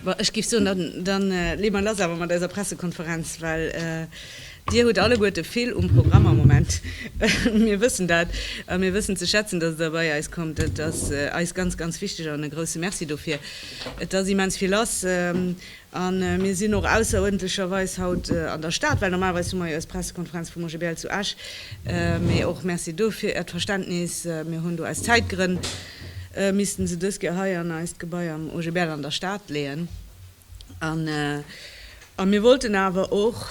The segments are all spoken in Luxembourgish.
Bon, ech géif soen, da leeë mer lass awer mat eiser Pressekonferenz, well Dir hutt alleguerte vill um Programm am Moment. Mir wëssen dat a mir wëssen ze schätzen, datt Der bei eis kommt. Dat ass eis ganz, ganz wichteg an e grouse Merci dofir. Et ass immens vill lass. A mir sinn och ausseruerdentlecherweis haut an der Stad, well normalerweis hu mer jo eis Pressekonferenz vum OGBL zu Esch. Mee och Merci do fir Äert Verständnis. Mir hunn do aus Zäitgrënn missten se dës Kéier hei an eist Gebai am OGBL an der Stad leeën. A mir wollten awer och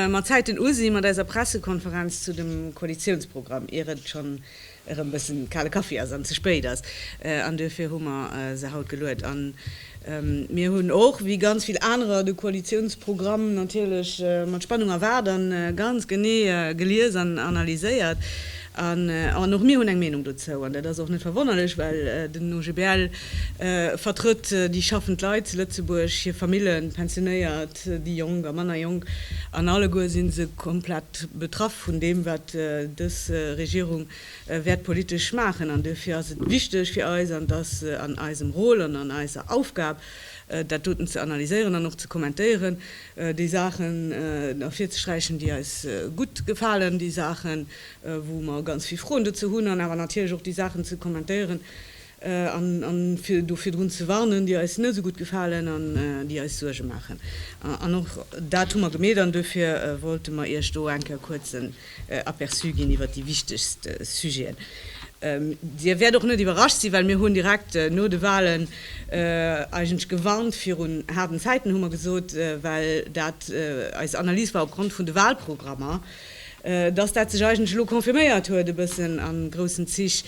mat Zäiten usi mat eiser Pressekonferenz zu dem Koalitiounsprogramm, ier et schonn erëm bëssen kale Kaffi ass an ze spéit ass an duerfir hu mer se haut geluet. An mir hunn och, wéi ganz vill anerer, de Koalitiounsprogramm natierlech mat Spannung erwaart an ganz genee gelies an analyséiert. An och mir hunn eng Meenung dozou an dat ass och net verwonnerlech, well den OGBL vertrëtt déi schaffend Leit zu Lëtzebuerg, hir Famillen, d'Pensionéiert, déi Jonk a manner Jonk, an alleguer si se komplett betraff vun deem, wat dës Regierung wäert politesch maachen. An duerfir ass et wichteg fir eis, an et ass an eisem Rôle an an eiser Aufgab, dat doten ze analyséieren an och ze kommentéieren, déi Saachen ervirzesträichen, déi eis gutt gefalen, déi Saachen, wou mer ganz vill Froen dozou hunn, an awer natierlech och déi Saachen ze kommentéieren, an fir do virdrun ze warnen, déi eis net esou gutt gefalen an déi eis Suerge maachen. An och dat hu mer gemeet an duerfir wollte mer Iech do eng Kéier kuerz en Aperçu ginn iwwert déi wichtegst Sujeten. Dir wäert och net iwwerrascht sinn, well mir hunn direkt no de Wahlen eigentlech gewarnt virun haarden Zäiten, hu mer gesot, well dat eis Analys war opgrond vun de Wahlprogrammer, dass dat sech eigentlech elo confirméiert huet e bëssen a groussen Zich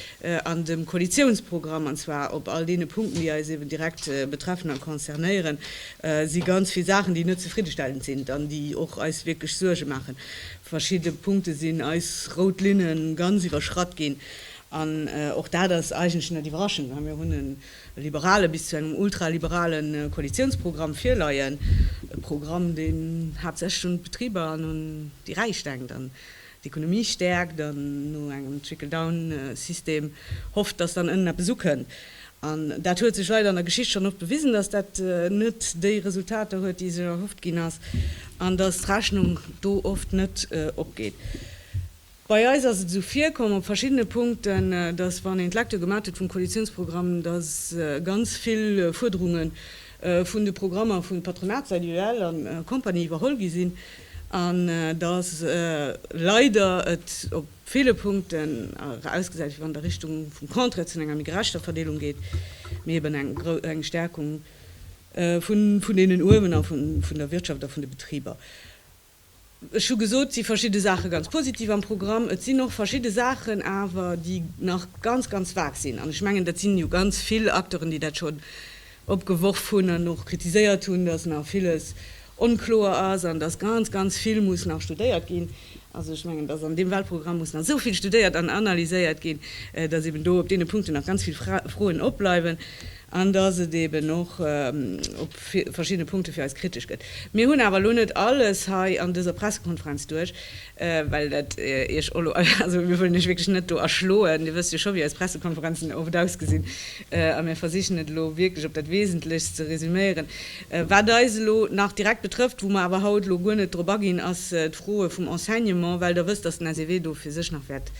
an dem Koalitiounsprogramm, an zwar op all deene Punkten, déi eis eeben direkt betreffen a concernéieren, si ganz vill Saachen, déi net zefriddestellend sinn an déi och eis wierklech Suerge maachen. Verschidde Punkte sinn eis rout Linne ganz iwwerschratt ginn an och dat ass eigentlech net iwwerraschend, mä mir hunn e liberale bis zu engem ultraliberale Koalitiounsprogramm virleien, e Programm, deen haaptsächlech un d'Betriber an un déi Räich denkt an d'Ekonomie stäerkt an no engem Trickle-down-System hofft, datt dann ënnen eppes ukënnt. An dat huet sech leider an der Geschicht schonn oft bewisen, datt dat net déi Resultater huet, déi sech erhofft ginn ass, an datt d'Rechnung do oft net opgeet. Bei eis ass et esou virkomm op verschiddene Punkten, datt, wann een d'Lecture gemat huet vum Koalitiounsprogramm, datt ganz vill Fuerderunge vun de Programmer vu Patronatssäit, UEL a Compagnie, iwwerholl gi sinn an datt leider et op ville Punkten awer ausgesäit, wéi wann et a Richtung vum Contraire zu enger méi gerechter Verdeelung geet, mee eben eng Stärkung vun deenen uewen a vun der Wirtschaft a vun de Betriber. Ech hu gesot, et si verschidde Saache ganz positiv am Programm. Et sinn och verschidde Saachen awer, déi nach ganz, ganz vag sinn. An ech mengen, dat sinn jo ganz vill Acteuren, déi dat schonn opgeworf hunn an och kritiséiert hunn, dass nach villes onkloer ass an dass ganz, ganz vill muss nach studéiert ginn. Also ech mengen, dass an deem Wahlprogramm muss nach esou vill studéiert an analyséiert ginn, dass eeben do op deene Punkten nach ganz vill Froen opbleiwen. an dass et eben och op verschiddene Punkte fir eis kritesch gëtt. Mir hunn awer elo net alles hei an dëser Pressekonferenz duerch, well dat Iech och elo, also mir wëllen Iech wierklech net do erschloen, Dir wësst jo scho wéi eis Pressekonferenzen oft ausgesinn a mir versichen et elo wierklech op dat Wesentlechst ze resüméieren. Wat eis elo nach direkt betrëfft, wou mer awer haut elo guer net drop aginn, ass d'Froe vum Enseignement, well Der wësst, dass den SEW do fir sech nach wäert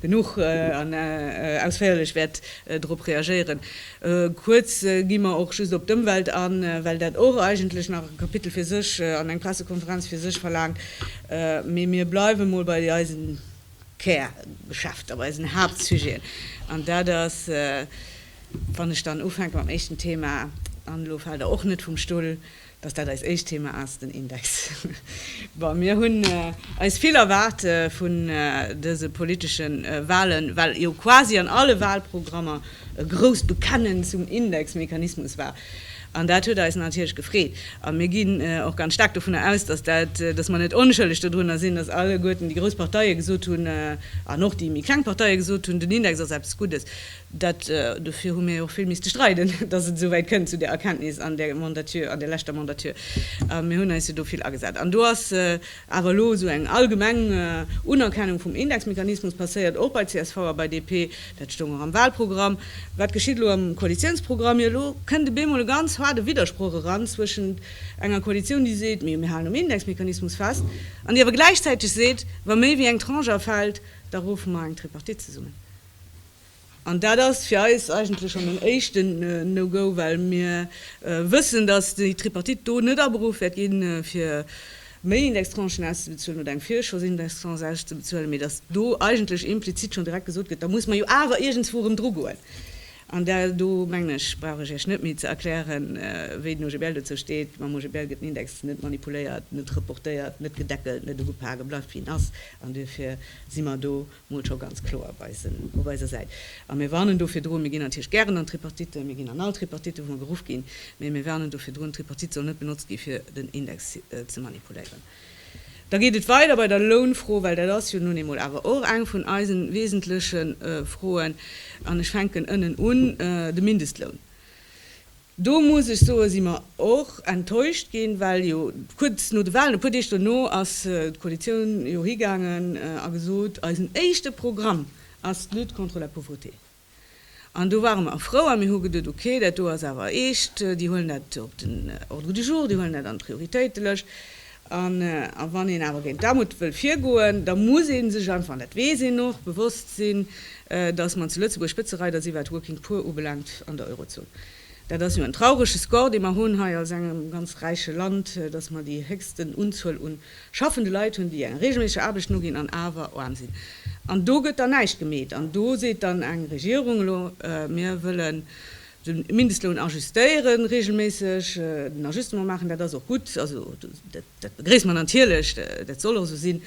Genuch an ausféierlech wäert drop reagéieren. Kuerz gi mer och just op d'Ëmwelt an, well dat och eigentlech nach e Kapitel fir sech an eng Pressekonferenz fir sech verlaangt. Mee mir bleiwe mol bei eisen Kärgeschäfter, bei eisen Haaptsujeten. An dat ass, wann ech dann ufänke mam éischten Thema, an elo faalt Der och net vum Stull, Dass dat eist éischt Thema ass, den Index. Bon, mir hunn eis vill erwaart vun dëse politesche Wahlen, well jo quasi an alle Wahlprogrammer e grousst Bekennen zum Indexmechanismus war. An dat huet eis natierlech gefreet. A mir ginn och ganz staark dovunner aus, dass dat, dass mer net onschëlleg dodrunner sinn, dass alleguerten déi grouss Parteie gesot hunn, an och déi méi kleng Parteie gesot hunn, den Index ass eppes Guddes. Dat, dofir hu mir jo och vill misste streiden, datt et esouwäit kënn, zu där Erkenntnis an där Mandature, an där leschter Mandature. A mir hunn eis jo do vill agesat. An do ass awer elo esou eng allgemeng Unerkennung vum Indexmechanismus passéiert, och bei csv a bei DP. Dat stoung och am Wahlprogramm. Wat geschitt elo am Koalitiounsprogramm? Jo, elo kënnt op eemol e ganz haarde Widdersproch eran zwëschent enger Koalitioun, déi seet, Mir, mir halen um Indexmechanismus fest, an déi awer gläichzäiteg seet, Wa méi wéi eng Tranche afält, da ruffe mer eng Tripartite zesummen. An dat ass fir eis eigentlech schonn en éischten No-Go, well mir wëssen, dass déi Tripartite do net aberuff wäert ginn, fir méi Indextranchen auszebezuelen oder eng Virschossindextranche auszebezuelen, mee dass do eigentlech implizit schonn direkt gesot gëtt, da muss mer jo awer iergendswou erëm drugoen. An da, do mengen ech, brauch ech Iech net méi ze erklären, wéi den OGBL dozou steet. Mam OGBL gëtt den Index net manipuléiert, net reportéiert, net gedeckelt, net ugepak. E bleift, wéi en ass. An duerfir si mer do. mol scho ganz kloer op eisen, op eiser Säit. A mir warnen do virdrun, mir ginn natierlech gären an d'Tripartite, mir ginn an all Tripartite, wou mer geruff ginn, mä mir warnen do virdrun, d'Tripartite soll net benotzt gi fir den Index ze manipuléieren. Da geet et weider bei der Lounfro, well dat ass jo nun eemol awer och eng vun eise wesentleche Froen, an ech fänken ënnen un, de Mindestloun. Do muss ech soen, si mer och enttäuscht ginn, well jo kuerz no de Wahlen, e puer Deeg dono, ass d'Koalitioun jo higaangen a gesot, eisen éischte Programm ass d'Lutte contre la pauvreté. An do ware mer frou a mir hu geduet, ok, dat do ass awer eescht, déi huelen dat op den Ordre du jour, déi huelen dat an d'Prioritéitelëscht. A wann een awer géint d'Aarmut wëll virgoen, da muss ee sech einfach, an dat weess een och, bewosst sinn, datt mer zu Lëtzebuerg Spëtzereider si wat d'Working Poor ubelaangt an der Eurozon. Dat ass jo en traurege Score, dee mer hunn hei als engem ganz räiche Land, datt mer déi héchsten Unzuel u schaffende Leit hunn, déi enger reegelméisseger Aarbecht noginn an awer aarm sinn. An do gëtt dann näischt gemeet. An do seet dann eng Regierung elo, mir wëllen De Mindestloun ajustéieren reegelméisseg, den Ajustement maachen, dat ass och gutt, also dat begréisse mer natierlech, dat soll och esou sinn,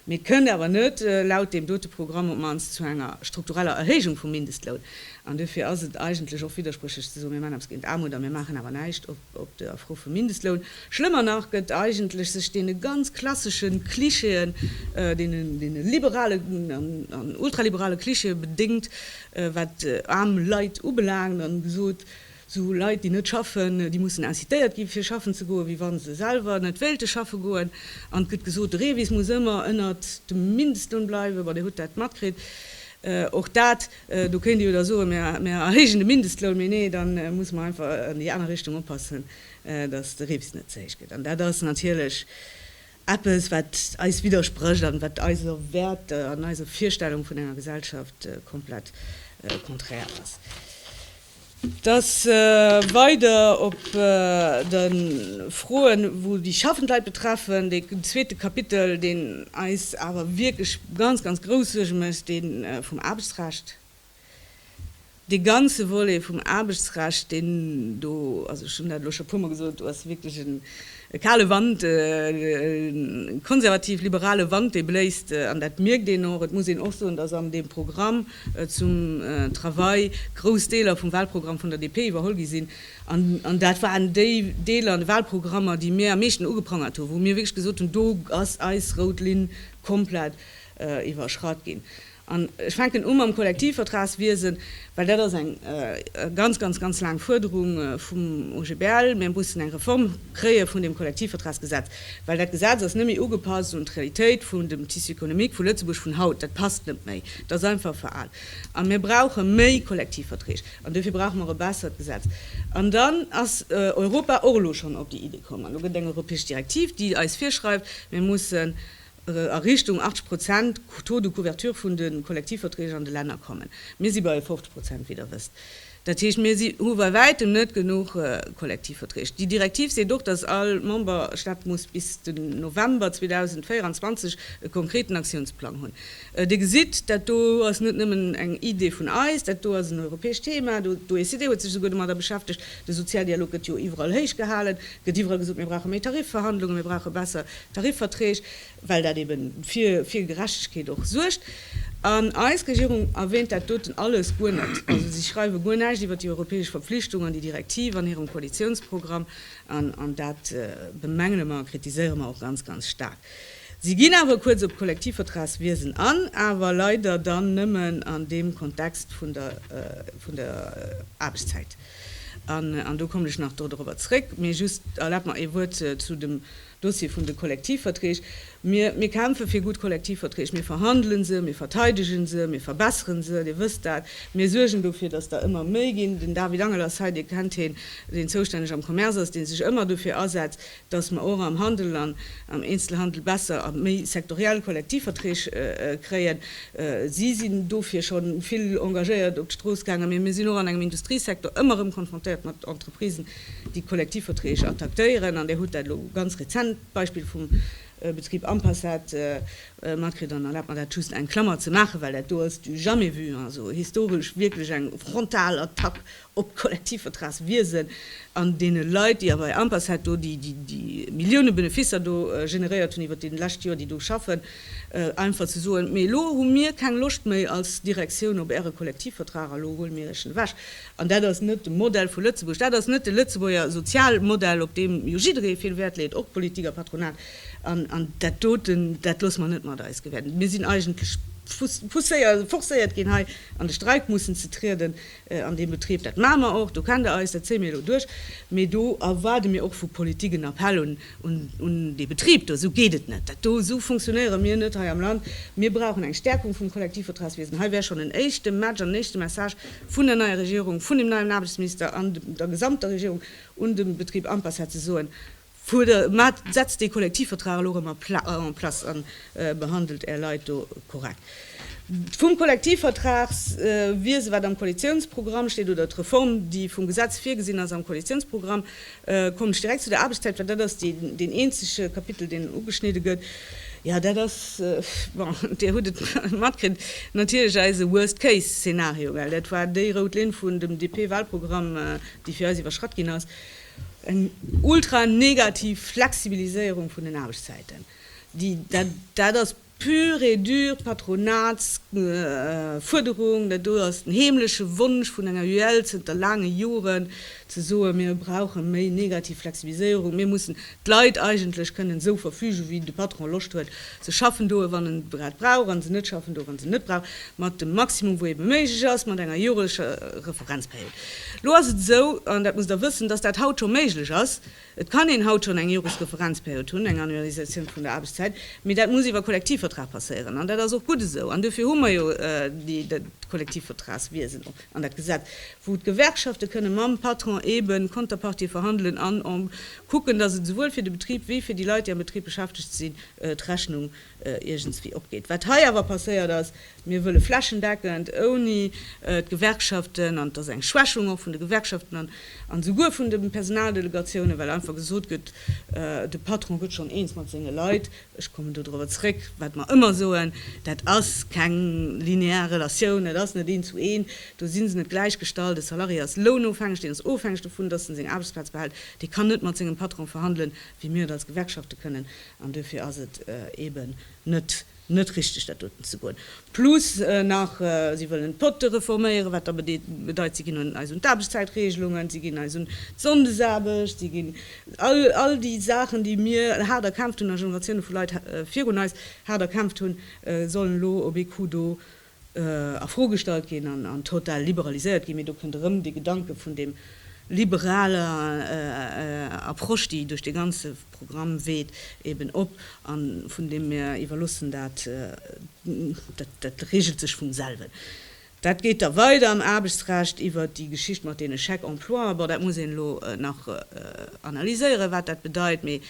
mee et kënnt awer net laut deem dote Programm op d'mannst zu enger struktureller Erhéijung vum Mindestloun. An dofir ass et eigentlech och widdersprüchlech ze soen, mir maachen eppes géint d'Aarmut a mir maachen awer näischt. Op der Fro vum Mindestloun, schlëmmer nach, gëtt eigentlech sech deene ganz klassesche Klischeeën, deene liberalen an ultraliberale Klischeeë bedéngt, wat aarm Leit ubelaangt, a gesot, Esou Leit, déi net schaffen, déi mussen incitéiert gi fir schaffen ze goen, wéi wa se selwer net wéilte schaffe goen. An et gëtt gesot, de REVIS muss ëmmer ënnert dem Mindestloun bleiwen. Bon, Dir hutt dat matkritt. Och dat Do kéint ee jo da soen, Mir erhéijen de Mindestloun. Mee nee, da musse mer einfach an déi aner Richtung oppassen, datt de Rips net ze héich gëtt. An dat ass natierlech eppes, wat eis widdersprécht an wat eise Wäerter an eiser Virstellung vun enger Gesellschaft komplett konträr ass. Dass weider op de Froen, wou déi schaffend Leit betreffen, dee zweete Kapitel, deen eis awer wierklech ganz, ganz grouss Suerge mécht, dee vum Aarbechtsrecht, dee ganze Volet vum Aarbechtsrecht, deen do, also ech hunn dat elo scho e puermol gesot, do ass wierklech E kale Wand, e konservativ-liberale Wand, dee bléist, an dat mierkt een och. Et muss een och soen, dass an deem Programm zum Travail grouss Deeler vum Wahlprogramm vun der DP iwwerholl gi sinn. An dat waren déi Deeler an de Wahlprogrammer, déi mir am meeschten ugeprangert hunn, wou mir wierklech gesot hunn, do ass eis rout Linn komplett. iwwerschratt ginn. An ech fänken u mam Kollektivvertragswiesen, well dat ass eng ganz, ganz, ganz laang Fuerderung vum OGBL. Mir mussen eng Reform kréie vun deem Kollektivvertragsgesetz, well dat Gesetz ass net méi ugepasst un d'Realitéit vun dem Tissu économique vu Lëtzebuerg vun haut. Dat passt net méi, dat ass einfach veraalt. A mir brauche méi Kollektivverträg an dofir brauche mer e bessert Gesetz. An dann ass Europa och elo schonn op déi Iddi komm an do gëtt eng europäesch Direktiv, déi eis virschreift, mir mussen a Richtung 80 Prozent Taux de couverture vun de Kollektivverträg an de Länner kommen. Mir si bei 50 Prozent, wéi Der wësst. Dat heescht, mir hu bei Wäitem net genuch Kollektivverträg. Déi Direktiv seet och, dass all Memberstaat muss bis den November 2024 e konkreten Aktiounsplang hunn. Dir gesitt, dat do ass net nëmmen eng Idee vun eis, dat do ass en europäescht Thema. D'OECD huet sech esouguer domadder beschäftegt. De Sozialdialog gëtt jo iwwerall héich gehalen, gëtt iwwerall gesot, mir brauche méi Tarifverhandlungen, mir brauche besser Tarifverträg, well dat eben fir fir Gerechtegkeet och suergt. An eis Regierung erwähnt dat doten alles guer net. Also si schreiwe guer näischt iwwert déi europäesch Verpflichtung an déi Direktiv an hirem Koalitiounsprogramm. An an dat bemängele mer a kritiséiere mer och ganz ganz staark. Si ginn awer kuerz op d'Kollektivvertragswiesen an, awer leider dann nëmmen an deem Kontext vun der vun der Aarbechtszäit. An an do kommen ech nach do dorobber zréck. Mee just erlaabt mer ee Wuert zu dem Dossier vun de Kollektivverträg, Mir, mir kämpfe fir gutt Kollektivverträg. Mir verhandele se, mir verteidege se, mir verbessere se, Dir wësst dat. Mir suergen dofir, datt der ëmmer méi ginn. Den David Angel ass hei, Dir kennt heen, deen zoustänneg am Commerce ass, dee sech ëmmer dofir asetzt, datt mer och am Handel an am Eenzelhandel besser a méi sektoriell Kollektivverträg kréien. Si sinn dofir scho vill engagéiert op d'Strooss gaangen. Mee mir sinn och an engem Industriesektor ëmmer erëm konfrontéiert mat Entreprisen, déi Kollektivverträg attactéieren, an Dir hutt dat elo ganz rezent, d'Beispill vum Betrib Ampassat, matkritt. An erlaabt mer dat just eng Klammer ze maachen, well dat do ass du jamais vu, also historesch wierklech eng frontal Attack op d'Kollektivvertragswiesen an deene Leit, déi a bei Ampassat do déi Millioune Beneficer do generéiert hunn iwwert déi lescht Joer, déi do schaffen, einfach ze soen, mee elo hu mir keng Loscht méi als Direktioun op Äre Kollektivvertrag a lo huele mir Iech en ewech. An dat ass net de Modell vu Lëtzebuerg. Dat ass net de Lëtzebuerger Sozialmodell, op deem jo jidderee vill Wäert leet, och d'Politik a d'Patronat. An dat doten, dat loosse mer net mat eis gewähren. Mir sinn eigentlech pousséiert, forcéiert ginn, hei an de Streik mussen ze trieden an deem Betrib. Dat maache mer och, do kennt Der eis, dat zéie mir elo duerch. Mee do erwaarde mir och vu Politik en Appell un un dee Betrib do, esou geet et net, dat do, esou funktionéiere mir net hei am Land, mir brauchen eng Stärkung vum Kollektivvertragswiesen. Hei wär schonn en éischte Match an en éischte Message vun der neier Regierung, vun dem neien Aarbechtsminister an der gesamter Regierung un de Betrib Ampacet, ze soen, Maacht, setzt dee Kollektivvertrag elo erëm en place a behandelt Är Leit do korrekt. Vum Kollektivvertragswiese, wat am Koalitiounsprogramm steet, oder d'Reform, déi vum Gesetz virgesinn ass am Koalitiounsprogramm, Kommen ech direkt zu der Aarbechtszäit, well dat ass deen eenzege Kapitel, deen ugeschnidde gëtt. Jo, dat ass, bon, Dir hutt et matkritt, natierlech eise Worst Case Szenario, well dat war déi rout Linn vun dem DP-Walprogramm, déi fir eis iwwerschratt ginn ass, eng ultra negativ Flexibiliséierung vun den Aarbechtszäiten. Dat ass. Pur et dur d'Patronatsfuerderung, dat do ass den heemleche Wonsch vun enger UEL zënter laange Joren, ze soen, mir brauche méi negativ Flexibiliséierung, mir mussen d'Leit eigentlech kënnen esou verfügen, wéi de Patron Loscht huet. Se schaffen do, wann en grad brauch, a se net schaffen do, wann se en net brauch, mat dem Maximum, wou ebe méiglech ass, mat enger joreger Referenzperiod. Elo ass et esou, an dat musst Der wëssen, dass dat haut scho méiglech ass, Et kann een haut schonn eng Joresreferenzperiod hunn, eng Annualisatioun vun der Aarbechtszäit, mee dat muss iwwer Kollektivvertrag passéieren. An dat ass och gutt esou. An duerfir hu mer jo dat Kollektivvertragswiesen och an dat Gesetz, wou d'Gewerkschafte kënne mam Patron eebe Konterpartie verhandelen an kucken, dass et esouwuel fir de Betrib wéi fir déi Leit, déi am Betrib beschäftegt sinn, d'Rechnung iergendswéi opgeet. Wat hei awer passéiert ass, mir wëlle flächendeckend, ouni d'Gewerkschaften, an et ass eng Schwächung och vun de Gewerkschaften an an esouguer vun de Personaldelegatiounen, well einfach gesot gëtt, de Patron gëtt schonn eens mat senge Leit. Ech kommen do dorobber zrëck, wat mer ëmmer soen, Dat ass keng linear Relatioun, et ass net een zu een, do si se net gläichgestallt. E Salarié ass lounofhängeg, deen ass ofhängeg dovun, datt en seng Aarbechtsplaz behält, dee kann net mat sengem Patron verhandelen, wéi mir et als Gewerkschafte kënnen. An duerfir ass et eeben net net richteg, dat doten ze goen. Plus nach, si wëllen d'Potte reforméieren, wat da bedeit, si ginn eis un d'Aarbechtszäitregelungen, si ginn eis un d'Sonndesaarbecht, si ginn all all déi Saachen, déi mir haart erkämpft hunn a Generatioune vu Leit virun eis haart erkämpft hunn, sollen elo op ee Coup do a Fro gestallt ginn an total liberaliséiert ginn, mee do kënnt erëm dee Gedanke vun deem liberaler Approche, déi duerch dee ganze Programm weht, eben op, a vun deem mir iwwerloossen, dat dat regelt sech vum selwen. Dat geet da weider am Aarbechtsrecht iwwert déi Geschicht mat deene Chèques-emploi. Bon, dat muss een elo nach analyséieren, wat dat bedeit, mee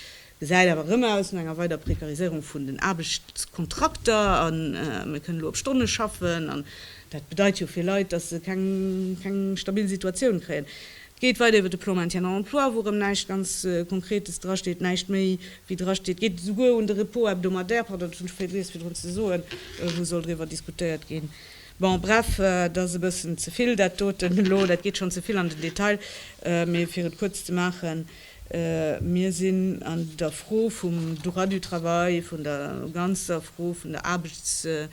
gesäit awer erëm aus no enger weider Prekariséierung vun den Aarbechtskontrakter a mir kënnen elo op Stonne schaffen an dat bedeit jo fir Leit, datt se keng stabil Situatioun kréien. Et geet weider iwwer de Plan maintien en emploi, wou erëm näischt ganz Konkretes drasteet, näischt méi wéi drasteet. Et geet esouguer un de Repos hebdomadaire, pardon, dat hunn ech vergiess virdrun ze soen, wou soll driwwer diskutéiert ginn. Bon, bref, et ass e bëssen ze vill dat doten elo, dat geet schonn ze vill an den Detail, mee fir et kuerz ze maachen, Mir sinn an der Fro vum Droit du travail, vun der ganzer Fro vun der Aarbechtsrecht,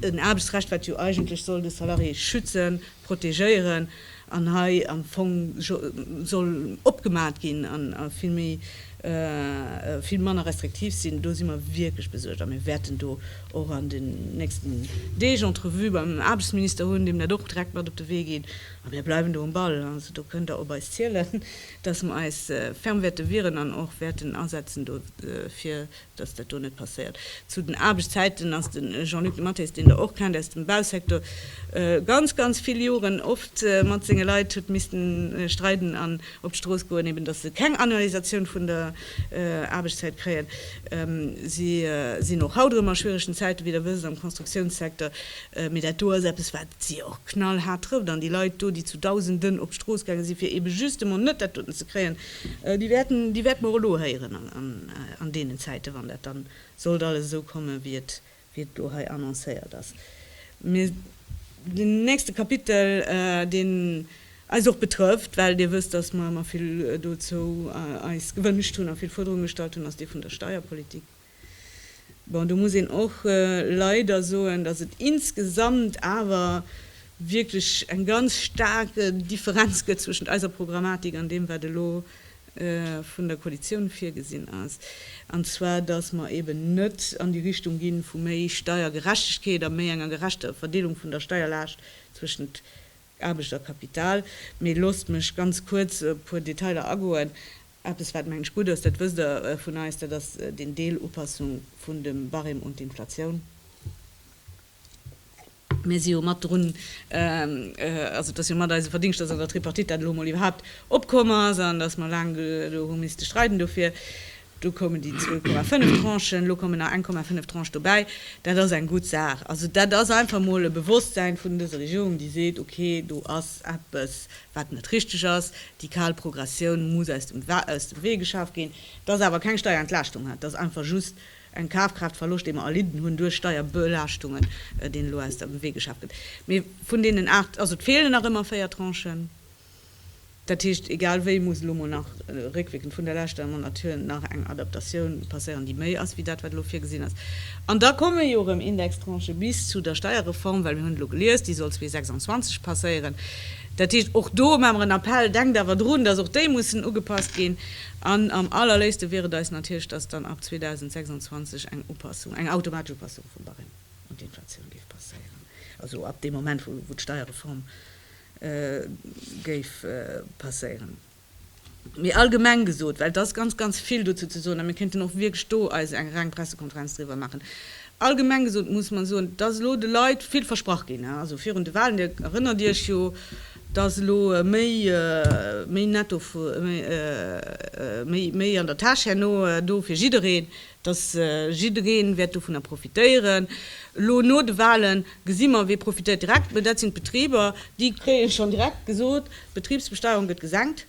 en Aarbechtsrecht, wat jo eigentlech soll de Salarié schützen, protegéieren, an hei am Fong soll opgemat ginn a vill méi, vill manner restriktiv sinn. Do si mer wierklech besuergt a mir wäerten do och an den nächsten Deeg Entrevue beim Aarbechtsminister hunn, deem dat och direkt mat op de Wee geet. A mir bleiwen do um Ball. Also do kënnt Der op eis zielen, dass mer eis ferm wäerte wieren an och wäerten asetzen dofir, dass dat do net passéiert. Zu den Aarbechtszäiten ass de Jean-Luc Dematteis, deen Der och kennt aus dem Bausektor, ganz, ganz vill Joren oft mat senge Leit huet missten streiden an op d'Strooss goen, eben dass se keng Annualisatioun vun der Aarbechtszäit kréien. Si sinn och haut erëm a schwieregen Zäiten, wéi Der wësst, am Konstruktiounssektor. Mee dat do ass eppes, wat si och knallhaart trëfft. An déi Leit do, déi zu Dausenden op d'Strooss gaange sinn, fir eebe just emol net dat doten ze kréien, déi wäerten, déi wäerte mer och elo héieren an deenen Zäiten, wann dat da sollt alles esou kommen, wéi et elo hei annoncéiert ass. Mee den nächste Kapitel, deen eis och betrëfft, well Dir wësst, dass mer ëmmer vill dozou eis gewënscht hunn a vill Fuerderunge gestallt hunn, ass dee vun der Steierpolitik. Bon, do muss een och leider soen, dass et insgesamt awer wierklech eng ganz staark Differenz gëtt zwëschent eiser Programmatik an deem, wat elo vun der Koalitioun virgesinn ass, an zwar dass mer eeben net an déi Richtung gi vu méi Steiergerechtegkeet a méi enger gerechter Verdeelung vun der Steierlaascht zwëschent Aarbechterkapital. Mee loosst mech ganz kuerz op e puer Detailer agoen. Eppes, wat, mengen ech, gutt ass, dat wësst Der vun eis, dat ass den Deel Upassung vun dem Barème un d'Inflatioun. Mir si jo mat drun, also et ass jo mat eise Verdingscht, dass an der Tripartite dat elo emol iwwerhaupt opkomm ass an dass mer laang do hu misste streiden dofir. Do koumen déi 2,5 Tranchen, elo kommen nach 1,5 Tranche dobäi. Dat ass eng gutt Saach. Also dat ass einfach emol e Bewosstsein vun dëser Regierung, déi seet, okay, do ass eppes, wat net richteg ass, déi kal Progressioun muss aus dem Wee geschaaft ginn. Dat ass awer keng Steierentlaaschtung, dat ass einfach just en Kafkraaftverloscht, dee mer erlidden hunn duerch Steierbelaaschtungen, deen elo aus dem Wee geschaaft gëtt. Mee vun deenen aacht, also et feelen nach ëmmer véier Tranchen. Dat heescht, egal wéi muss elo mol nach réckwierkend vun der leschter Amendement hier nach eng Adaptatioun passéieren, déi méi ass wéi dat, wat elo virgesinn ass. An da komme jo erëm Indextranchë bis zu der Steierreform, well mir hunn elo gelies, déi soll 2026 passéieren. Dat heescht, och do maa mer en Appell, denkt awer drun, dass och déi mussen ugepasst ginn. An am allerléifste wier et eis natierlech, dass dann ab 2026 eng Upassung, eng automatesch Upassung vum Barème un d'Inflatioun géif passéieren, also ab deem Moment, wou d'Steierreform, géif passéieren. Mee allgemeng gesot, well et ass ganz, ganz vill dozou ze soen a mir kéinten och wierklech do eis eng reng Pressekonferenz driwwer maachen, allgemeng gesot muss mer soen, et ass elo de Leit vill versprach ginn, also virun de Wahlen, Dir erënnert Iech jo, dass elo méi, méi netto, méi an der Täsch herno do fir jiddereen, datt jiddereen wäert dovunner profitéieren, elo no de Wahlen gesi mer wee profitéiert direkt, mä dat sinn d'Betriber, déi kréien schonn direkt gesot, d'Betribsbesteuerung gëtt gesenkt,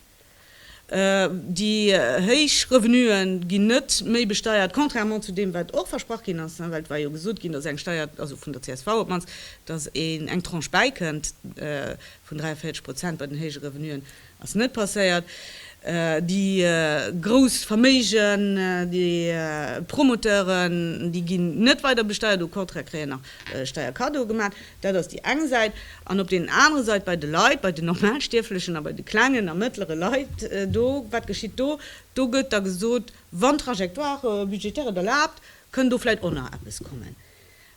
déi héich Revenuen ginn net méi besteiert, contrairement zu deem wat och versprach ginn ass, well et war jo gesot ginn, datt eng Steier, also vun der csv op d'mannst, datt een eng Tranche bäikënnt vun 43 Prozent bei den héije Revenuen. Ass net passéiert. Déi grouss Verméigen, déi Promoteuren, déi ginn net weider besteiert, au contraire kréien nach Steierkaddoe gemaat. Dat ass déi eng Säit. An op deenen anere Seit bei de Leit, bei den Normalstierflechen a bei de klengen a mëttlere Leit do, wat geschitt do? Do gëtt da gesot, wann d'Trajectoire budgétaire et erlaabt, kënn do vläit och nach eppes kommen.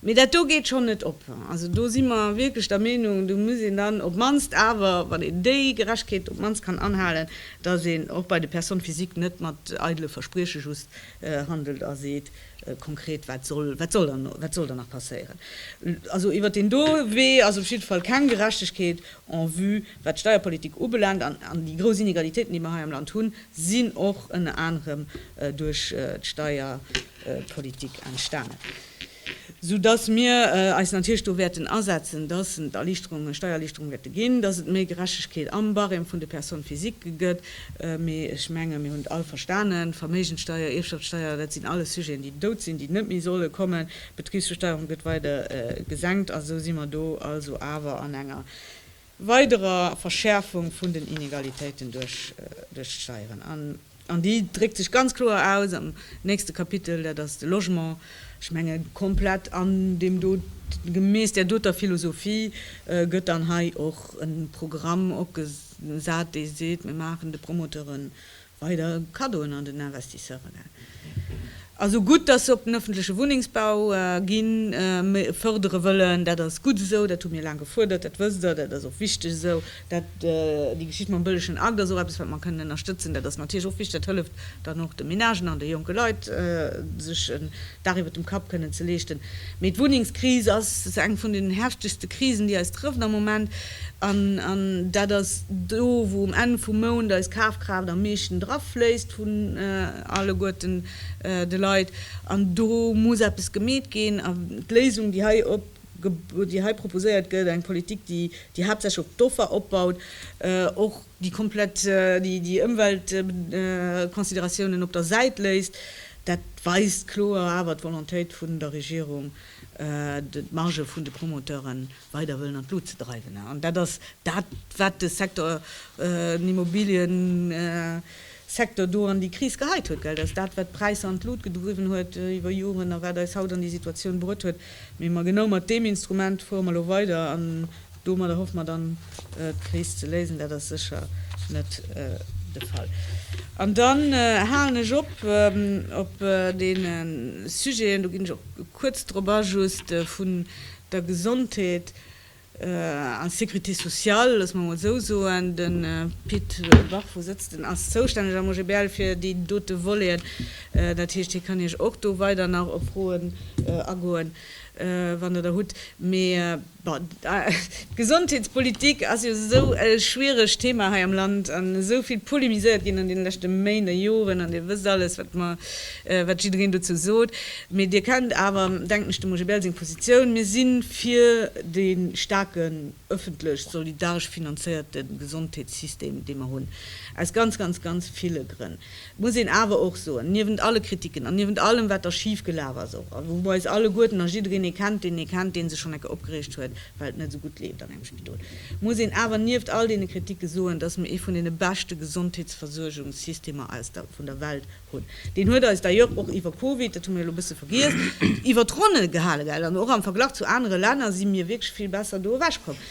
Mee dat do geet schonn net op. Also do si mer wierklech der Meenung, do muss een dann op d'mannst awer, wann een déi Gerechtegkeet op d'mannst kann anhalen, datt een och bei de Personnes physiques net mat eidele Versprieche just handelt a seet, konkret wat soll, wat soll dann, wat soll dann nach passéieren. Also iwwert deen do Wee ass op jidde Fall keng Gerechtegkeet en vue wat d'Steierpolitik ubelaangt. An déi grouss Inegalitéiten, déi mer hei am Land hunn, sinn och ënner anerem duerch d'Steier, Politik entstanen, sou dass mir eis natierlech do wäerten asetzen, dass et Erliichterungen, Steiererliichterungen wäerte ginn, dass et méi Gerechtegkeet am Barème vun de Personnes physiques gëtt. Mee ech menge mir hunn et all verstanen, Verméigenssteuer, Ierfschaftssteuer, dat sinn alles Sujeten, déi dout sinn, déi net méi solle kommen. D'Betribsbesteuerung gëtt weider gesenkt a sou si mer do also awer an enger, weiderer Verschäerfung vun den Inegalitéiten duerch d'Steieren, an déi dréckt sech ganz kloer aus am nächste Kapitel, dat ass de Logement. Ech menge komplett an deem do, gemäss där doter Philosophie, gëtt dann hei och e Programm opgesat, dee seet, mir maachen de Promoteure weider Kaddoen an den Investisseure ginn. Also gutt, dass se op den öffentleche Wunnengsbau ginn, mä fördere wëllen, dat ass gutt esou, dat hu mir laang gefuerdert, dat wësst Der, dat ass och wichteg esou. Dat, déi Geschicht mam bëllegen Akt ass och eppes, wat mer kënnen ënnerstëtzen. Dat ass natierlech och wichteg, dat hëlleft dann och de Ménagen an de jonke Leit, sech en Daach iwwer dem Kapp kënnen ze leeschten. Mee d'Wunnengskris ass eng vun den heftegste Krisen, déi eis trëfft am Moment. An dat ass do, wou um Enn vum Mount eis Kafkraaft am meeschten drafléisst vun alleguerten de Leit. An do muss eppes gemeet ginn. A d'Léisung, déi hei op, déi hei proposéiert gëtt, eng Politik, déi haaptsächlech op d'Offer opbaut, och, déi komplett déi Ëmweltconsideratiounen op der Säit léisst, dat weist kloer awer d'Volontéit vun der Regierung, d'Margë vun de Promoteure weider wëllen an d'Lut ze dreiwen. An dat ass dat, wat de Secteur, den Immobiliësecteur do an déi Kris geheit huet. Dat ass dat, wat d'Präisser an d'Lut gedriwwen huet iwwer Joren a wat eis haut an déi Situatioun bruet huet. Mee genau mat deem Instrument fuere mer elo weider. Domadder hoffe mer dann d'Kris ze léisen. Dat ass sécher net de Fall. An dann halen ech op op deene Sujeten, do ginn ech och kuerz drop a, just vun der Gesondheet an Sécurité sociale, loosse mer emol esou soen. De Pit Bafo sëtzt, en ass zoustänneg am OGBL fir déi dote Voleten. Dat heescht, hie kann Iech och do weider nach op Froen agoen, wann Der der hutt. Mee D'Gesondheetspolitik ass jo esou e schwieregt Thema hei am Land an esou vill polemiséiert ginn an deene leschte Méint a Joren, an Dir wësst alles, wat mer, wat jiddereen dozou sot. Mee Dir kennt awer, denken ech, dem Roger Bell seng Positioun. Mir si fir dee staarken, ëffentlech, solidaresch finanzéierte Gesondheetssystem, dee mer hunn, aus ganz, ganz, ganz ville Grënn. muss een awer och soen, niewent alle Kritiken an niewent allem, wat da schif gelaf ass och, a wou mer eis alleguerten a jiddereen ee kennt, deen ee kennt, dee sech schonn eng Kéier opgereegt huet, well et net esou gutt leeft an engem Spidol, muss een awer nieft all deene Kritike soen, dass mer ee vun deene beschte Gesondheetsversuergungssystemer aus der, vun der Welt hunn. Deen huet eis d'ailleurs och iwwer Covid, dat hu mir elo e bësse vergiess, iwwer d'Ronne gehale, gell, an och am Verglach zu anere Länner si mir wierklech vill besser do ewechkomm.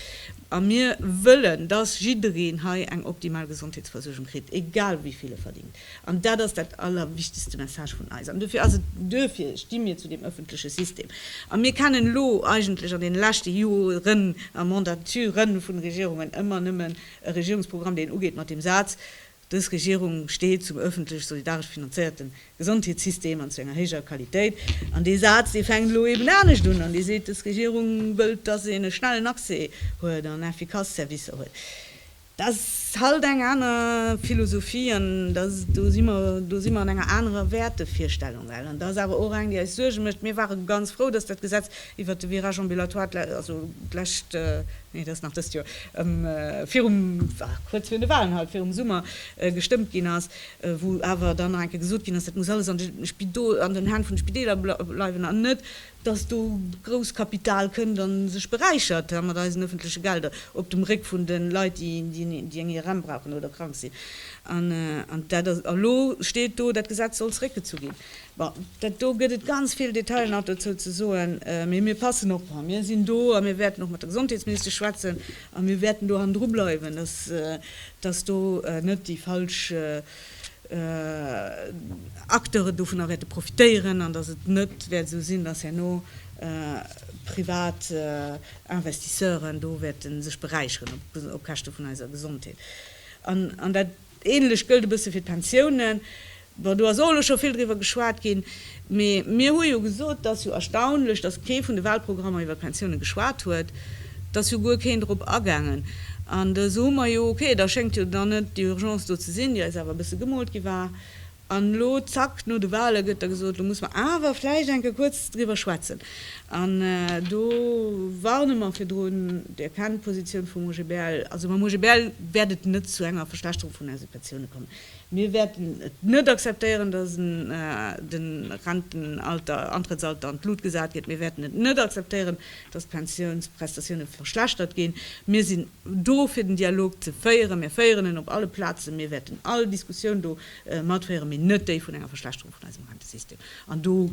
A mir wëllen, dass jiddereen hei eng optimal Gesondheetsversuergung kritt, egal wéi vill e verdingt. An dat ass dat allerwichtegste Message vun eis. An duerfir ass et, duerfir sti mir zu deem öffentleche System. A mir kennen elo eigentlech an deene leschte Joren a Mandaturen vun Regierungen ëmmer nëmmen e Regierungsprogramm, deen ugeet mat deem Saz, Dës Regierung steet zum öffentlech solidaresch finanzéierte Gesondheetssystem an zu enger héijer Qualitéit. An dee Saz, dee fänkt elo eben anescht un an dee seet, dës Regierung wëllt, dass een e schnellen Accès huet an efficace Servicer huet. Dat ass halt eng aner Philosophie an do si mer, do si mer an enger anerer Wäertevirstellung. Well, an dat ass awer och eng, déi eis Suerge mécht, mir ware ganz frou, dass dat Gesetz Iwwert de Virage ambulatoire, also d'lescht, nee, dat ass nach dëst Joer, virum, kuerz virun de Wahlen halt, virum Summer gestëmmt ginn ass, wou awer dann nach eng Kéier gesot ginn ass, dat muss alles an den Hänn vun de Spideeler bleiwen an net, dass do Grousskapital kënnt a sech beräichert hei mat eisen öffentleche Gelder op dem Réck vun de Leit, déi eng IRM brauchen oder krank sinn. An dat ass, a lo steet do, dat Gesetz soll zeréckgezu ginn. Bon, dat do gëtt et ganz vill Detailer nach dozou ze soen, mee mir passen op. A mir sinn do a mir wäerten och mat der Gesondheetsministesch schwätzen a mir wäerten do hannendru bleiwen, dass, dass do net déi falsch Acteuren dovunner wäerte profitéieren an dass et net wäert esou sinn, dass herno privat Investisseuren do wäerte sech beräicheren op Käschte vun eiser Gesondheet. An dat. Ähnlech gëllt e bësse fir d'Pensiounen. Bon, do ass och elo scho vill driwwer geschwat ginn. Mee mir hu jo gesot, et ass jo erstaunlech, datt kee vun de Wahlprogrammer iwwer d'Pensiounen geschwat huet. Et ass jo guer keen drop agaangen. An da soe mer, jo ok, da schéngt jo dann net déi Urgence do ze sinn, déi eis awer e bësse gemoolt gi war. An elo, zack, no de Wale gëtt da gesot, elo muss mer awer vläicht enke kuerz driwwer schwätzen. An do warne mer virdrun, Dir kennt d'Positioun vum OGBL. Also mam OGBL wäert et net zu enger Verschlechterung vun eise Pensiounen kommen. Mir wäerten et net akzeptéieren, dass de Rentenalter, Antrëttsalter an d'Lut gesat gëtt. Mir wäerten et net akzeptéieren, dass d'Pensiounsprestatioune verschlechtert ginn. Mir sinn do fir den Dialog ze féieren. Mir féieren en op alle Plazen. Mir wäerten all Diskussioun do Mat féieren mee net déi vun enger Verschlechterung vun eisem Rentesystem. An do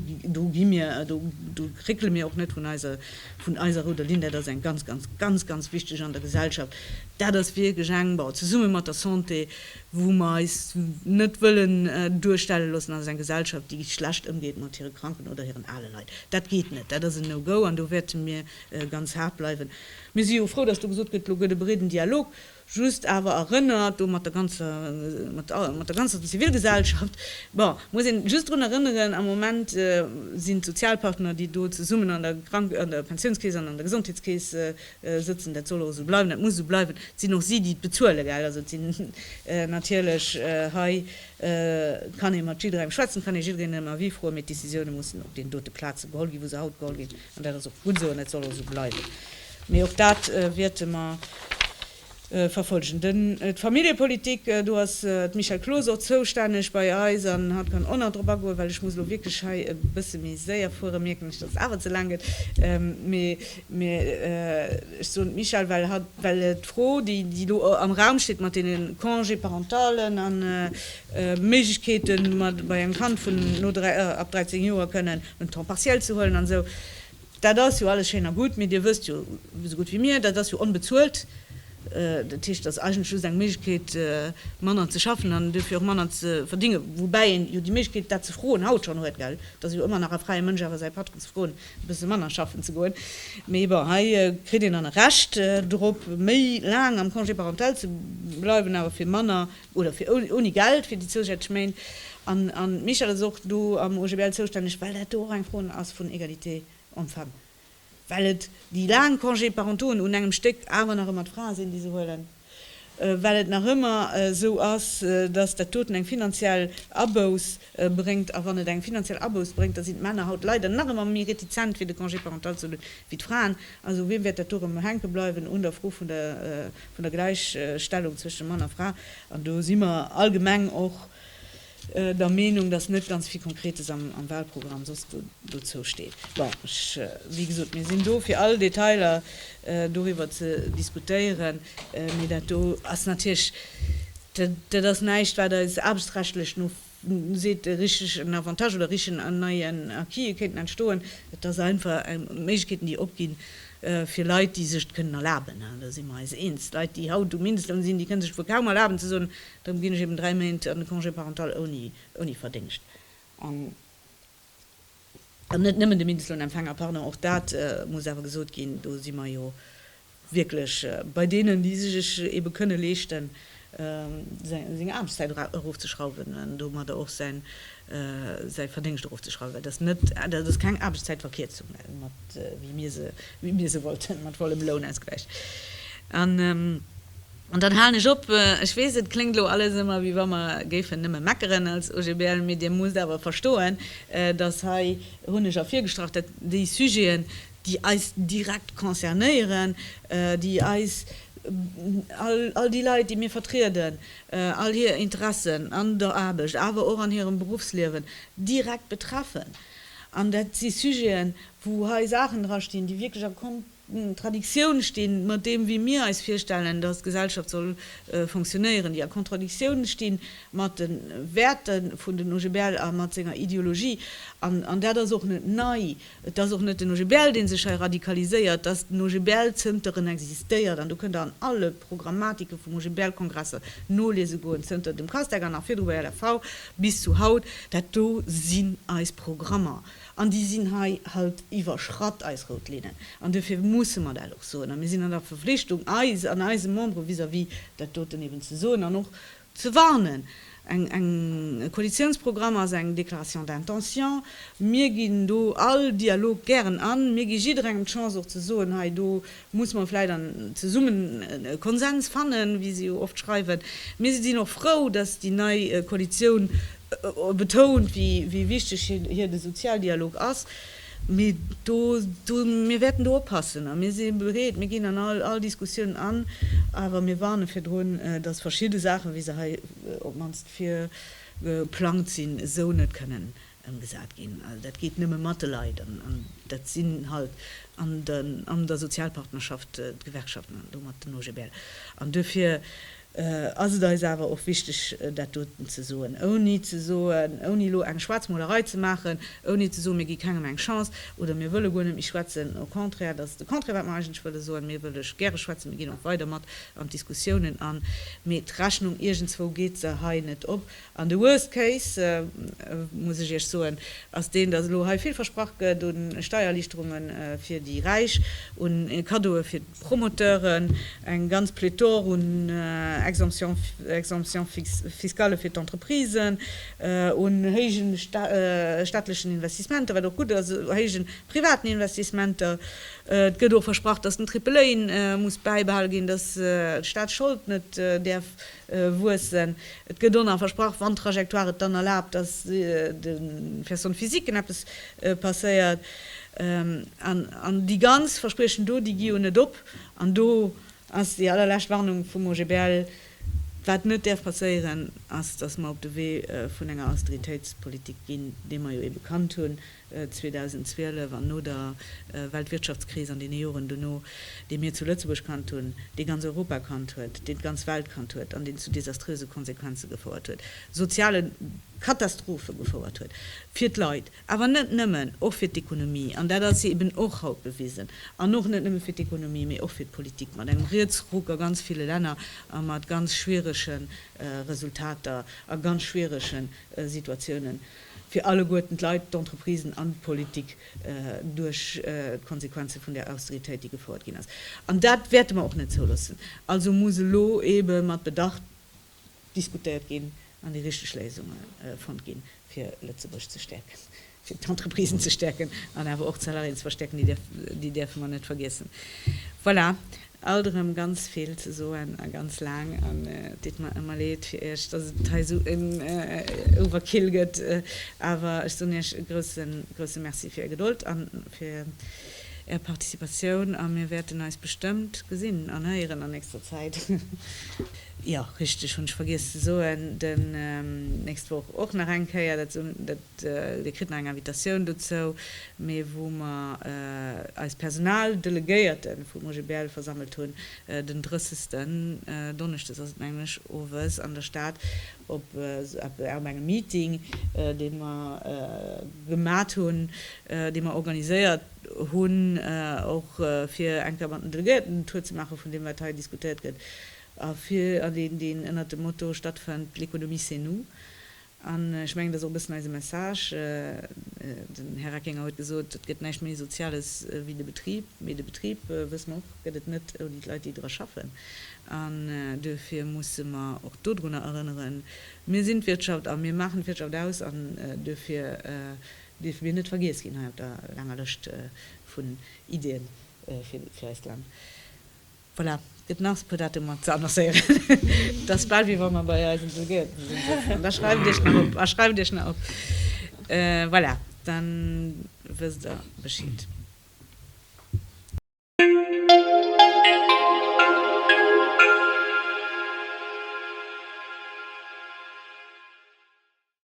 gi mir, do réckele mir och net vun eiser, vun eiser rouder Linn. Dat ass eng ganz, ganz, ganz, ganz wichteg an der Gesellschaft. Dat ass wierklech eng, bon, zesumme mat der Santé, wou mer eis net wëllen duerstelle loossen als eng Gesellschaft, déi schlecht ëmgeet mat hire Kranken oder hiren ale Leit. Dat geet net. Dat ass en No-Go an do wäerte mir ganz haart bleiwen. Mir si jo frou, dass do gesot gëtt, elo gëtt e breeden Dialog. Just awer erënnert, do mat der ganzer, mat all, mat der ganzer Zivilgesellschaft, bon, muss een just drun erënneren, am Moment sinn d'Sozialpartner, déi do zesummen an der Krank-, an der Pensiounskeess an an der Gesondheetskeess sëtzen, dat soll och esou bleiwen, dat muss esou bleiwen, et sinn och si, déi et bezuelen, gell. Also et sinn natierlech, hei kann ee mat jidderengem schwätzen, kann ee jiddereen en Avis froen, mee d'Decisioune mussen op deenen dote Plaze geholl ginn, wou se haut geholl ginn. An dat ass och gutt esou an dat soll och esou bleiwen. Mee och dat wäerte mer verfollegen. D'Familljepolitik, do ass d'Michèle Closeau och zoustänneg bei eis an hatt kann och nach drop agoen, well ech muss elo wierklech hei e bësse méi séier fueren, mierken ech, datt et awer ze laang gëtt. Mee ech soen d'Michèle, well hatt, well d'Fro, déi elo am Raum steet mat deene Congé-parentalen an Méiglechkeeten mat bei engem Kand vun no ab 13 Joer kënnen en Temps partiel ze huelen an esou. Dat ass jo alles schéin a gutt, mee Dir wësst jo esou gutt wéi mir, dat ass jo onbezuelt. Dat heescht, et ass eigentlech just eng Méiglechkeet manner ze schaffen an duerfir och manner ze verdinge, woubäi een jo déi Méiglechkeet dat ze froen haut schonn huet, gell. Et ass jo ëmmer nach e fräie Mënsch awer säi Patron ze froen e bësse manner schaffen ze goen. Mee bon, hei kritt een dann e Recht drop méi laang am Congé parental ze bleiwen awer fir manner oder fir ouni Geld fir déi zousätzlech Méint. An de Michel ass och do am OGBL zoustänneg, well dat do och eng Fro ass vun Égalité homme-femme, well et déi laang Congés parentauxen un engem Stéck awer nach ëmmer d'Frae sinn, déi se huelen, well et nach ëmmer esou ass, dass dat doten eng finanziell Abouss bréngt. A wann et eng finanziell Abouss bréngt, da sinn d'Männer haut leider nach ëmmer méi retizent, fir de Congé parental ze huelen, wéi d'Fraen. Also u wiem wäert dat do erëm hänke bleiwen? Un der Fro vun der. vun der Gläichstellung zwëschen Mann a Fra, an do si mer allgemeng och der Meenung, datt net ganz vill Konkretes am Wahlprogramm soss dozou steet. Bon, ech, wéi gesot, mir sinn do fir all Detailer doriwwer ze diskutéieren, mee dat do ass natierlech, dat ass näischt wat eis aarbechtsrechtlech no seet, e richtegen Avantage oder e richtegen an neien Acquise kéinten entstoen. Et ass einfach eng Méiglechkeeten, déi opginn, fir Leit, déi sech et kënnen erlaben, an do si mer eis eens, d'Leit, déi haut um Mindestloun sinn, déi kënne sech et wuel kaum erlaben ze soen, Erëm ginn ech eben dräi Méint an de Congé parental ouni Verdéngscht. an net nëmmen de Mindestlohnempfänger, pardon, och dat muss awer gesot ginn, do si mer jo wierklech bei deenen, déi sech et ebe kënne leeschten, seng Aarbechtszäit erofzeschrauwen an domadder och säi Verdéngscht erofzeschrauwen, well dat ass keng Aarbechtszäitverkierzung, mat wéi mir se wollten, mat vollem Lounausgläich. An dann halen ech op. Ech weess, et kléngt elo alles ëmmer, wéi wa mer géifen nëmme meckeren als OGBL, mee Dir musst awer verstoen, dass hei hunn ech ervirgestrach, dat déi Sujeten, déi eis direkt concernéieren, déi eis, all déi Leit, déi mir vertrieden, all hir Interessen an der Aarbecht, awer och an hirem Beruffsliewen direkt betreffen. An dat si Sujeten, wou hei Saachen drastinn, déi wierklech a D'Kontradiktioun sti mat deem, wéi mir eis virstellen, datt d'Gesellschaft soll fonctionnéieren, déi a Kontradiktioun sti mat de Wäerte vun den OGBL a mat senger Ideologie. An dat ass och net nei. Et ass och net den OGBL, dee sech hei radikaliséiert. Datt den OGBL zënter en existéiert, an do kënnt Der an alle Programmatike vum OGBL-Kongresser noliese goen, zënter dem Castag an nach virdru bei LFV bis zu haut, dat do sinn eis Programmer. An déi sinn hei halt iwwerschratt, eis rout Linnen. An duerfir musse mer dat och soen. A mir sinn an der Verflichtung, eis an eise Membere vis-à-vis dat doten eben ze soen an och ze warnen. Eng Koalitionsprogramm ass eng Déclaration d'intention. Mir ginn do all Dialog gären an. Mir gi jidderengem d'Chance och ze soen, hei do muss mer vläit an zesummen e Konsens fannen, wéi se jo oft schreiwen. Mir sinn och frou, dass déi nei Koalition betount, wéi wichteg hir de Sozialdialog ass, mee do, mir wäerten do oppassen a mir si bereet, mir ginn an all Diskussiounen an, awer mir warne virdrun, datt verschidde Saachen, wéi se hei op d'mannst virgeplangt sinn, esou net kënnen ëmgesat ginn. Dat geet nëmme mat de Leit an dat sinn halt an der Sozialpartnerschaft d'Gewerkschaften an domat den OGBL an duerfir, ass et eis awer och wichteg dat doten ze soen, ouni ze soen, ouni elo eng Schwaarzmolerei ze maachen, ouni ze soen, mir gi kengem eng Chance oder mir wëlle guer net méi schwätzen, au contraire, dat ass de Contraire wat mer eigentlech wëlle soen, mir wëlle gäre schwätzen, mir ginn och weider mat an d'Diskussiounen an, mee d'Rechnung iergendswou geet se hei net op. An de worst case, muss ech Iech soen, ass deen, dass elo hei vill versprach gëtt u Steiererlichterunge fir déi Räich, u Kaddoe fir d'Promoteuren, eng ganz Pléthore un Exemptions fiscales fir d'Entreprisen, un héije staatlechen Investissementer, wat och gutt ass, u héije privaten Investissementer. Et gëtt och versprach, dass den Triple A muss bäibehale ginn, dass d'Staatsschold net däerf Wuessen. Et gëtt on a versprach, wann d'Trajectoire et dann erlaabt, dass de Personnes physiquen eppes passéiert. An déi ganz Verspriechen do, déi gi jo net op. An do ass déi allerlescht Warnung vum OGBL, Wat net däerf passéieren, ass, dass mer op de Wee vun enger Austeritéitspolitik ginn, déi mer jo ee bekannt hunn, 2012 an no der Weltwirtschaftskris an deene Joren dono, dee mir zu Lëtzebuerg kannt hunn, dee ganz Europa kannt huet, deen d'ganz Welt kannt huet an deen zu desaströse Konsequenze gefouert huet, soziale Katastrophe gefouert huet fir d'Leit, awer net nëmmen, och fir d'Ekonomie, an dat ass eeben och haut bewisen, an och net nëmme fir d'Ekonomie, mee och fir d'Politik, mat engem Rietsruck a ganz ville Länner a mat ganz schwierege Resultater a ganz schwierege Situatiounen. fir alleguerten, d'Leit, d'Entreprisen an d'Politik, duerch d'Konsequenze vun där Austeritéit, déi gefouert ginn ass. An dat wäerte mer och net zouloossen. Also muss elo eebe mat Bedacht diskutéiert ginn an déi richteg Léisunge fonnt ginn, fir Lëtzebuerg ze stäerken, fir d'Entreprisen ze stäerken an awer och d'Salariéen ze verstäerken, déi däerfe mer net vergiessen. Voilà. Alt erëm ganz vill ze soen a ganz laang an et deet mer ëmmer leed fir iech, dass et hei esou en Overkill gëtt, awer ech soen iech e grousse, grousse Merci fir är Gedold a fir är Participatioun a mir wäerten eis bestëmmt gesinn an héieren an nächster Zäit. Jo, richteg, hunn ech vergiess ze soen, den nächst Woch och nach eng Kéier, dat Dir kritt nach eng Invitatioun dozou, mee wou mer eis Personaldelegéierten vum OGBL versammelt hunn, den 30. Donneschdes ass et mengen ech, owes an der Stad op engem Meeting, dee mer gemat hunn, dee mer organiséiert hunn, och fir eng Kéier mat den Delegéierten en Tour ze maache vun deem wat hei diskutéiert gëtt, a deen ënnert dem Motto stattfënnt, L'économie c'est nous. An ech mengen, dat ass och e bëssen eise Message. Den Här Reckinger huet gesot, et gëtt näischt méi Soziales wéi de Betrib. Mee de Betrib, wësse mer och, gëtt et net ouni d'Leit, déi dra schaffen. An duerfir musse mer och dodrunner erënneren, mir sinn d'Wirtschaft a mir maachen d'Wirtschaft aus. An duerfir dierfe mir net vergiess ginn hei op der laanger Lëscht vun Iddien fir eist Land. Voilà, gëtt nach esou puer Datum mat ze annoncéieren. Et ass bal wéi wa mer bei eisen Delegéierten sinn, sot hien. Da schreift Iech nach op a schreift Iech nach op. Voilà, da wësst Der Bescheed.